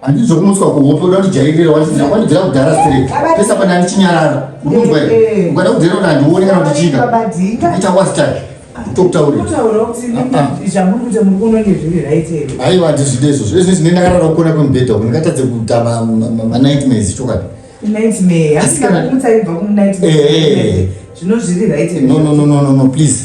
handizo kumutswa kuhope uda kutijairira watidzira watidzira kudhara straight pesa pane andichinyarara unonzwa here eh, eh. ukada kudhera kuti handione kana kuti chika ita wastake aiwa ndizvide izvozvo izvi zvine ndakarara kukona kwemubhedha uku ndingatadze kuita manightmares chokwadi eh, no no no no no please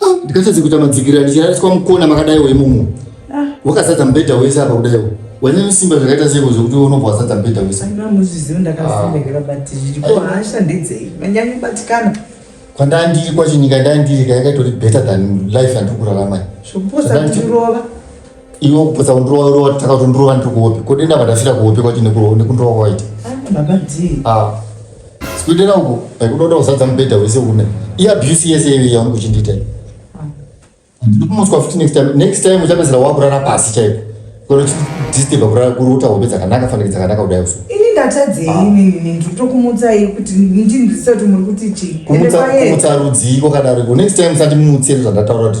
Ah, ndikatadze kuita madzikira ndichirariswa mukona makadai wemumu. Ah. Wakazadza mubhedha wese apa kudaiwo. Wene nesimba zvakaita sei kuzvokuti unobva wazadza mubhedha wese. Aina muzvizivo ndakazivekera ah. but zviripo hasha ndedzei. Manyanyi batikana. Kwandandiri kwacho nyika ndandiri kayakatori better than life yandikurarama. Zvokuposa kutirova. iwe kupotsa kundirova rova taka kuti ndirova ndiri kuhope ko denda vadafira kuhope kwacho nekurova nekundirova kwawaita ah, sikuitera uko kudoda kuzadza mubhedha wese une i abuse yese iyoyo yaunge uchindiita ndikumutswa futi next time next time uchapedzera wakurara pasi chaiko konochidisturba kurara kuruta hope dzakanaka fanike dzakanaka kudai usu ini ndatadzei ah. inini ndotokumutsai kuti ndindisati muri kuti chii kumutsa rudzii kwakadaro iko next time sati mumutsire zvandataura kuti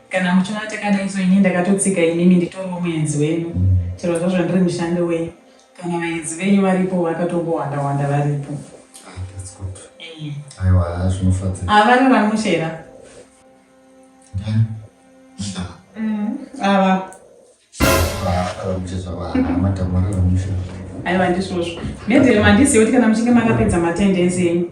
kana muchiona takadai so ini ndakatotsika inini nditoriwo muenzi wenyu chero zvazvo ndiri mushandi wenyu kana vaenzi venyu varipo vakatongowanda wanda varipo ah, aiwa zvinofadza avari ah, vamushera mm, ava aiwa ndisvozvo nedzero mandiziva kuti kana muchinge makapedza matendenzi enyu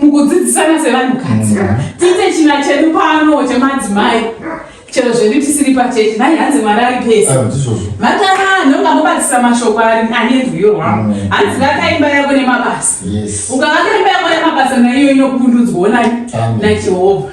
mukudzidzisana sevanhukadzi mm. tiite china chedu pano chemadzimai chero zvedu tisiri pachechi nai hanzi mwari ari pese ah, vatara ndonga mobatsisa mashoko ari ane rwiyo rwavo mm. hanzi ngakaimba yako nemabasa ukavakaimba yako nemabasa naiyo inokundudzwa onani najehovha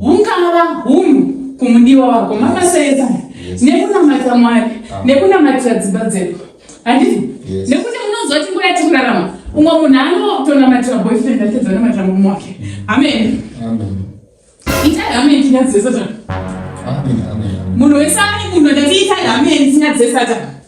Ungava hunhu kumudiwa wako makasaedza nekunamata mwari ah. nekunamatira dzimba dzedu handiti nekuti munonzwa kuti nguva yati kurarama umwe munhu anotonamatira boyfriend ake dzanomatira murume wake amen itai amen tinya dzesatana munhu wese ane munhu ndati itai amen tinya dzesatana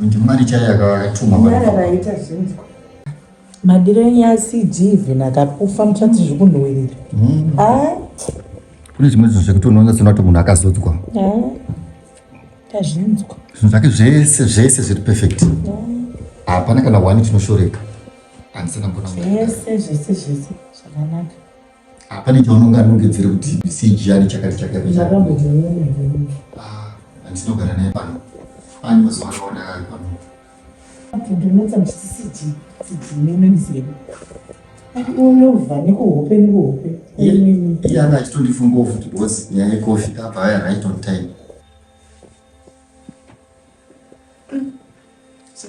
ndimwari chaiye akatumwa vaita zvinzwa madiro enyu acd even akakufa muchati zviri kunhuwirira hmm. ah. kune zvimwe zvinhu zvekuti unoona sona kuti munhu akazodzwa ah. tazvinzwa zvinhu zvake zvese zvese zviri perfect ah. hapana kana one chinoshoreka handisana mbona zvese zvese zvese zvakanaka hapane chaunonga anongedzere kuti sejiyani chakati chakaiandinogara ah, naye pano ani mazuva akawanda ari pano ndinotsa ndisisiti sidzinenemzero unovha nekuhope nekuhope iye anga achitondifungawo futi bcause nyaya yekofi apa aya right on time mm. so,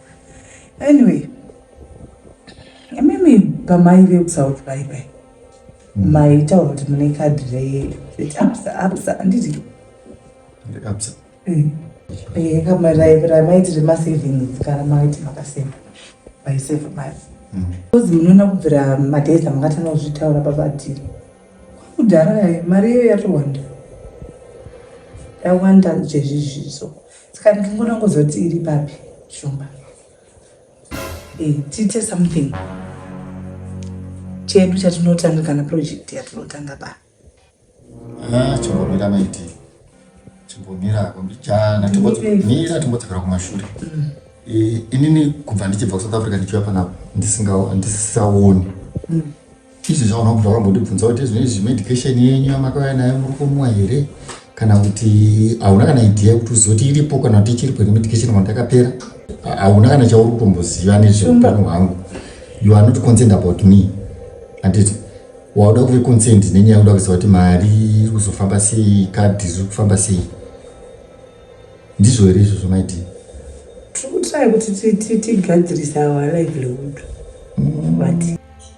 Anyway, imimi pamai vekusouth bai bai mm. maitaura kuti mune kadhi reabsa absa anditi absa eh. eh, ramaiti remasavings kana maiti makaseva vaiseva mari mm. bcause munoona kubvira madays amakatanga kuzvitaura pabatiri kudhara mari iyo yatowanda yawanda zvezvizvizo Saka ndingoda kuzoti iri papi shumba. Hey, eh, tiite something chedu chatinotanga kana project yatinotanga pa ah, chimbomira maiti chimbomira kumbichana timbomira timbodzokera kumashure mm. eh, inini kubva ndichibva kusouth africa ndichiuya panapa ndisisaoni mm. Izvi zvaona kuti wakambondibvunza kuti zvine izvi medication yenyu yamakauya nayo muri kumwa here kana kuti hauna kana idea yekuti uzoti iripo kana kuti ichiripo ine medication kana takapera hauna kana chauri kutomboziva nezveutano hwangu you are not concerned about me handiti wauda kuve concerned nenyaya uda kuziva kuti mari iri kuzofamba sei kadhi riri kufamba sei ndizvo here izvozvo maiti tiri kutrai kuti tigadzirise our livelihood mm. but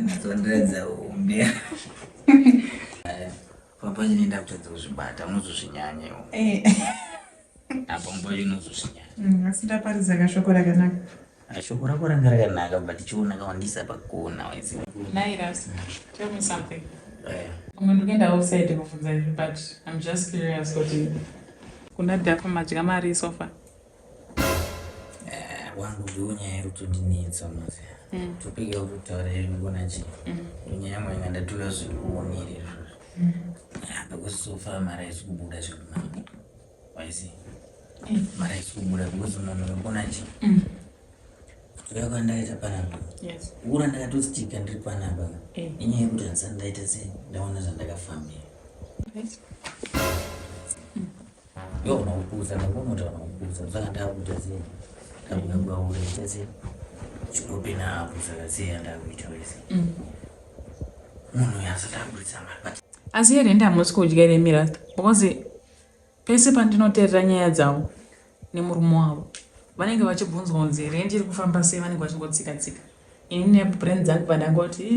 Ndondoedza umbe. Papa nyine ndakutadza kuzvibata unozozvinyanyewo. Eh. Apa mbo unozozvinyanya. Mm, asi ndaparidza kashoko rakanaka. Ah, shoko rako ranga rakanaka but chiona kawandisa pakona waisi. Nairas, tell me something. Eh. Umwe ndikuenda outside kuvhunza izvi but I'm just curious kuti kuna Dafa madya mari sofa. wangu ndiwo nyaya iri kutondinetsa mose mm. topika uri kutaura iri kugona chii nyaya yangu inga ndatora zviri kuonera izvozvo mm. because so far mari haisi kubuda zvekunaka waisi mm. mari haisi kubuda because munhu urikugona chii kuuya kwandaita panapa ura ndakatostika ndiri panapa inyaya yekuti handisati ndaita sei ndaona zvandakafambira Yo unakukuza nakumoto unakukuza zvakataka kuita sei ndakunyangwa ureita sei chikope napo zvakasei andakuita wese mm. munhu yasatambudza mari asi here ndamusi kudya ire mirata because pese pandinoterera nyaya dzavo nemurume wavo vanenge vachibvunzwa kunzi here ndiri kufamba sei vanenge vachingotsika tsika ini nebrain dzangu vandangoti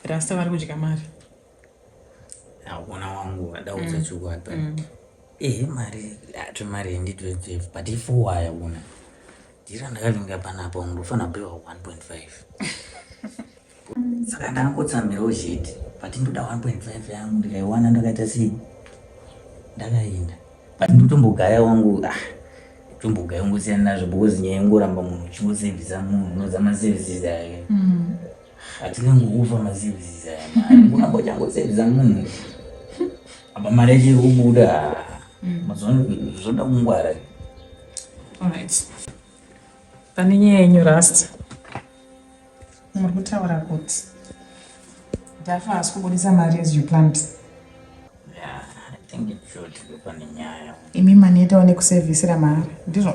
rasta vari kudya mari Hakuna wangu adaudza mm. chokwadi but mm. ehe mari ato mari henditwetsefu but ifowa yakuna ndira ndakavinga panapa ungu ndofana kupiwa 1.5 saka ndakangotsamirawo chete but ndoda 1.5 yangu ndikaiwana ndakaita sei ndakaenda but ndotombogaya wangu ah tombogaya ungosiyana nazvo because nyaya ingoramba munhu uchingosevhisa munhu unozama services ake mm. Hatina nguva maservices aya mari. Kuna bocha ngo service munhu. Apa mari yacho iri kubuda. Mm. Mazuva zvoda kungwara. All right. Pane nyaya yenyu rasta. Muri kutaura kuti Dafa haasi kubudisa mari as you planned. Yeah, I think it should be pane nyaya. Imi manetawo nekusevhisira mari. Ndizvo.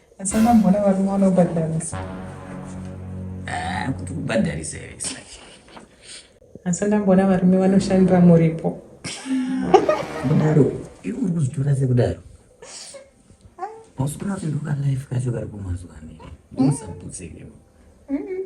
Asi akamboona varume vanobhadharisa. Ah, kuti kubhadharisa here sake. Asi ndamboona varume vanoshandira muripo. Kudaro, iwe uri kuzvitora sekudaro. Hausi kuona kuti ndokalife kacho kari kumazuva ane. Usaputseke. Mm -mm.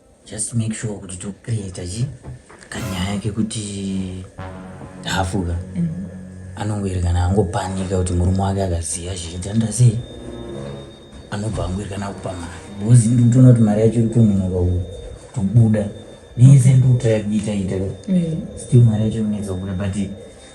just make sure kuti tocreata chi kanyaya kekuti hafuka mm -hmm anongoerekana angopanika kuti murume wake akaziva zvichitanda sei anobva angoerekana kupa mari bhozi ndikutoona kuti mari yacho irikunonoka kutobuda nese ndikutoya kuita ita mm. still mari yacho inetsa kubuda but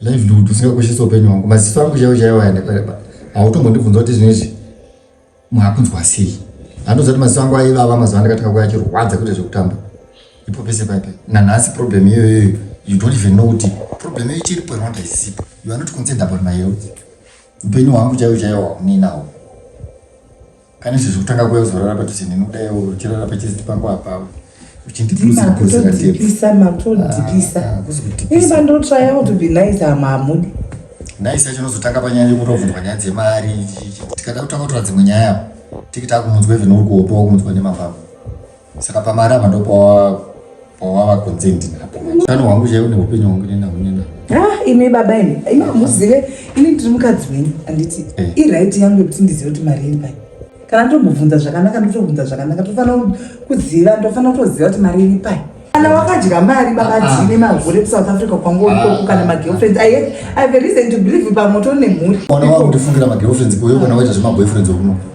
livelihood usingakoshesi upenyu hwangu maziso angu chaiwo chaiwo ayandakareba hautombondibvunza kuti zvinhu izvi mwakunzwa sei andoziva kuti maziso angu aivava mazuva andakatanga kuya achirwadza kuita zvekutamba ipo pese paipe nanhasi problem iyoyoyo you don't even know kuti problem iyo ichiripo rwanda isipo you are not concerned about my health upenyu hwangu chaiwo chaiwo hauninawo Pane izvi zvekutanga kuya kuzorara padhuze neni kudai uchirara pachiziti pangu apawe uchindidikisa makudzikisa ah, ini pandotraya kuti be nice amamudi nice yacho unozotanga panyaya yekutobvunzwa nyaya dzemari tikada kutanga kutora dzimwe nyaya tikita kumunzwa even uri kuhopa wakumudzwa nemapako saka pamarama ndopawava consent napoutano hwangu chaivo neupenyu hwangu nena hunena ah, imi baba imi imi hamuzive ini ndiri mukadzi wenyu anditi eh. iright yangu yekuti ndizive kuti mari iri pai kana ndomubvunza zvakanaka ndotobvunza zvakanaka tofanira kuziva ndofanira kutoziva kuti mari iri pai kana wakadya mari vakadzime ah, ah. mahure kusouth africa kwangu ikoko ah, kana magirlfriends i have a reason to believe pamoto nemhuri ona wakutofungira magirlfriends kuyo kana waita zvemaboyfriends okuno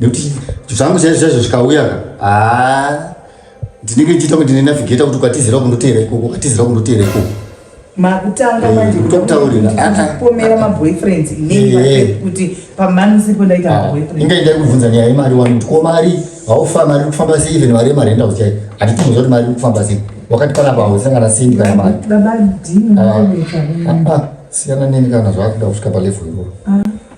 nekuti zvangu chaizvo chaizvo zvikauya ka haa ndinenge ndichiita kuti ndine navigeta kuti ukatizira kundoteera ikoko ukatizira kundoteera ikoko makutanga eh, manje kutauriraomera maboyfriends inei eh, eh. kuti pamani sipo ndaita ah, maboyfriend inga ndai kubvunza nyaya yemari wani kuti ko mari haufa mari kufamba sei even mari yemari enda kuchai hatitomuza kuti mari kufamba sei wakati panapa hausangana sendi kana mari ah, ah, siyana neni kana zvakuda kusvika palevel iroro